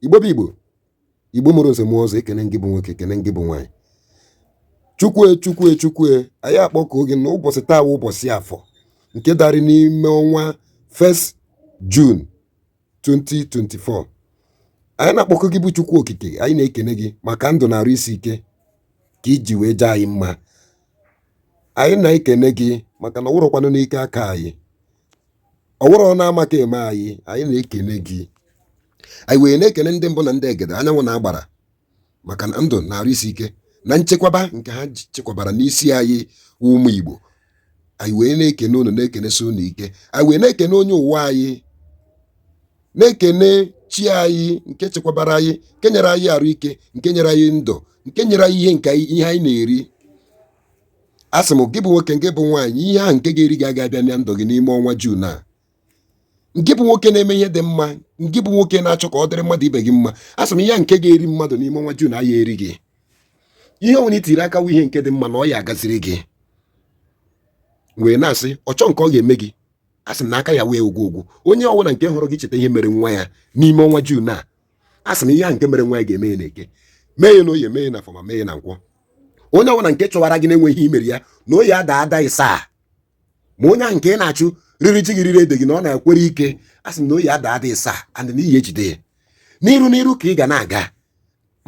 igbo bụ igbo igbo mụrụ nze mụọ ọzọ ekene ngị bụ nwoke ekene ngị bụ nwaanyị chukwue chukwue chukwue anyị akpọkuo gị na ụbọchị taa wụ ụbọchị afọ nke darị n'ime ọnwa 1st June 2024 anyị na-akpọku gị bụ chukwu okike anyị na-ekene gị maka ndụ na arụ isi ike ka i ji wee jee anyị mma anyị na-ekene gị maka na ọ wụrọkwanụ n'ike aka anyị ọ wụrọ na amaka eme anyị anyị na-ekene gị anyị wee na-ekene ndị mbụ na ndị egede anyanwụ na agbara maka na ndụ na arụ isi ike na nchekwaba nke ha ji- chekwabara n'isi anyị wụ ụmụ Igbo anyị wee na-ekene unu na-ekenesi unu ike anyị wee na-ekene onye ụwa anyị na-ekene chi anyị nke chekwabara anyị nke nyere anyị arụ ike nke nyere anyị ndụ nke nyere anyị ihe nke anyị- ihe anyị na-eri a sị m gị bụ nwoke ngị bụ nwaanyị ihe ahụ nke ga-eri gị aga abịa na ndụ gị n'ime ọnwa June a ngị bụ nwoke na-eme ihe dị mma ngị bụ nwoke na-achọ ka ọ dịrị mmadụ ibe gị mma a sị m ihe nke ga-eri mmadụ n'ime ọnwa June a ya eri gị ihe ọwụna i tiri aka wụ ihe nke dị mma na ọ ya-agaziri gị wee na-asị ọchọ nke ọ ga-eme gị a sị m na aka ya wee ogwu ogwu onye ọbụla nke hụrụ gị cheta ihe mere nwa ya n'ime ọnwa June a a sị m ihe ahụ nke mere nwa ya ga-eme ya n'eke mee ya na oye mee ya na afọ ma mee ya na nkwọ onye ọbụla nke chọwara gị na-enweghị ihe i mere ya na ọ ya-ada ada isaa ma onye ahụ nke ị na-achụ riri ji gị riri ede gị na ọ na-ekwere ike a sị m na ọ ya-ada ada isaa and na ị ya-ejide ya n'iru n'iru ka ị ga na-aga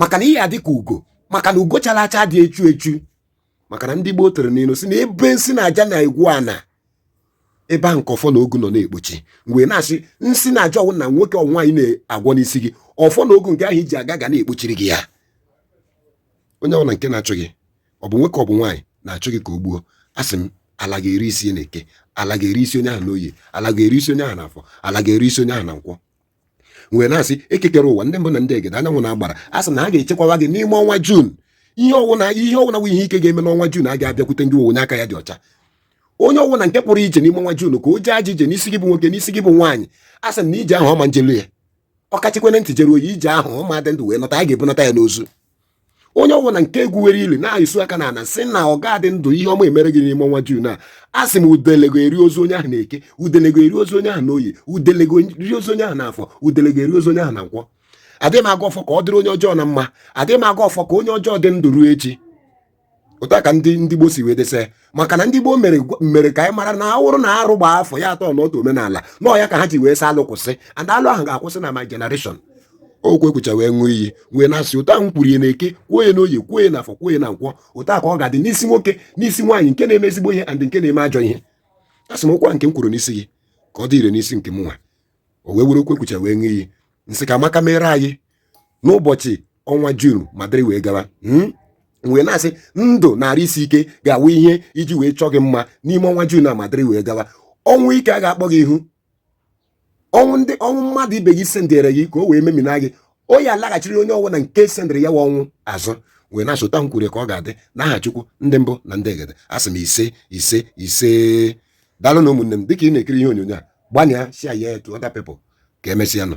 maka na ị ya-adị ka ugo maka na ugo chara acha adị echu echu maka na ndị gboo tụrụ n'ilu sị na ebe nsi na aja na-egwu ana ebe ahụ ka ọfọ na ogu nọ na-ekpochi m wee na-asị nsi na aja ọwụna nwoke ọ wụ nwaanyị na-agwọ n'isi gị ọfọ na ogu nke ahụ i ji aga ga na-ekpochiri gị ya onye ọbụla nke na-achụ gị ọ bụ nwoke ọ bụ nwaanyị na-achụ gị ka o gbuo asị m ala ga-eri isi n'eke ala ga-eri isi onye ahụ n'oye ala ga-eri isi onye ahụ n'afọ ala ga-eri isi onye ahụ na nkwọ wee na-asị eke kere ụwa ndị mbụ na ndị egede anyanwụ na agbara a sị na ha ga-echekwawa gị n'ime ọnwa June ihe ọwụna ihe ọwụna wụ ihe ike ga-eme n'ọnwa June aga abịakwute ngị wụ onye aka ya dị ọcha onye ọwụna nke pụrụ ije n'ime ọnwa June ka o jee ajọ ije n'isi gị bụ nwoke n'isi gị bụ nwaanyị a sị na ije ahụ ọ ma njelu ya ọ kachikwana ntị jeruo ije ahụ ọ ma-adị ndụ wee nọta a ga-ebunata ya n'ozu onye ọbụla nke egwuwere ili na-asụ aka na ana sị na ọ ga-adị ndụ ihe ọma emere gị n'ime ọnwa June a asị m udele ga-eri ozu onye ahụ na eke udele ga-eri ozu onye ahụ na oye udele ga-eri ozu onye ahụ na afọ udele ga-eri ozu onye ahụ na nkwọ adịghị m agọ ọfọ ka ọ dịrị onye ọjọọ na mma adịghị m agọ ọfọ ka onye ọjọọ dị ndụ ruo echi otu a ka ndị ndị gboo si wee desa maka na ndị gboo mere mere ka anyị mara na ọ wụrụ na arụ gbaa afọ ya atọ n'otu omenala na ọ ya ka ha ji wee sị alụ kwụsị and alụ ahụ ga-akwụsị na my generation okwu ekwucha wee ṅụọ iyi wee na-asị otu ahụ kwuru ya na eke kwuo ya n'oye kwuo ya n'afọ kwuo ya na nkwọ otu a ka ọ ga-adị n'isi nwoke n'isi nwaanyị nke na-eme ezigbo ihe and nke na-eme ajọ ihe asị m okwu a nke m kwuru n'isi gị ka ọ dị ire n'isi nke m nwa o wee were okwu ekwucha wee ṅụọ iyi m sị ka amaka mere anyị n'ụbọchị ọnwa June ma dịrị wee gawa m wee na-asị ndụ na arụ isi ike ga-awụ ihe e ji wee chọọ gị mma n'ime ọnwa June a ma dịrị wee gawa ọnwụ ike a ga-akpọ gị ihu ọnwụ mmadụ ibe gị sendere gị ka o wee memina gị o ya alaghachiri onye ọwụna nke sendere ya wa ọnwụ azụ wee na-asị etu a m kwuru ka ọ ga-adị n'aha Chukwu ndị mbụ na ndị egede asị m ise ise ise daalụ nụ ụmụnne m dịka ị na-ekiri ihe onyonyo a gbanịa share ya to other people ka emesịa nụ